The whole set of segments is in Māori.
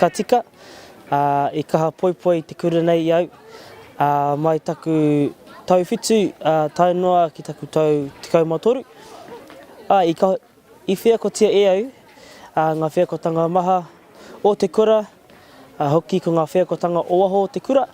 Ka tika, ā, i kaha poipoi te kura nei i au, ā, mai taku tau whitu, ā, tae noa ki taku tau tekau mā toru, ā, i ka, i wheakotia e au, ā, ngā wheakotanga maha o te kura, ā, hoki ko ngā wheakotanga o waho o te kura,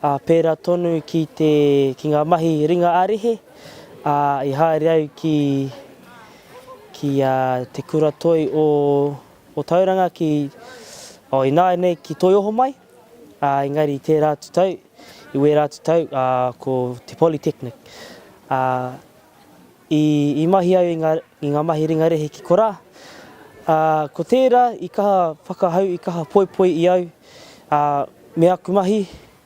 ā, pērā tonu ki te, ki ngā mahi ringa ā-rehe, ā, i haere au ki, ki, ā, te kura toi o. o Tauranga ki, oh, ināianei ki Toi Oho mai, ā, engari i tērā atu tau, i wērā atu tau, ā, ko te Polytechnic. Ā, i, i mahi au i ngā, i ngā mahi ringa rehe ki korā, ā, ko tērā i kaha whakahau, i kaha poipoi i au, ā, me aku mahi,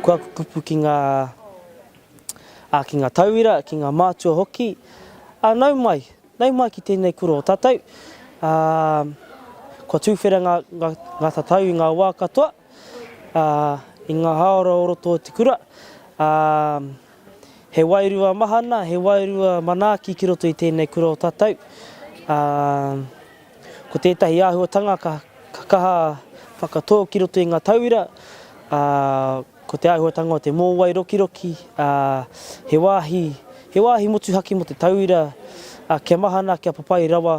Kua kupu ki ngā ā, ki ngā tauira, ki ngā mātua hoki, ā, nau mai, nau mai ki tēnei kura o tātou, ā, kua tūwhera ngā, ngā, ngā tatau i ngā wā katoa, ā, i ngā hāora o roto o te kura, ā, He wairua mahana, he wairua manaaki ki roto i tēnei kura o tatau. Ā, ko tētahi āhuatanga ka kaha whakatō ki roto i ngā tauira, ā, ko te āhuatanga o te mōwai rokiroki, ā, he wāhi, he wāhi motuhake mō te tauira, ā, kia mahana, kia papai rawa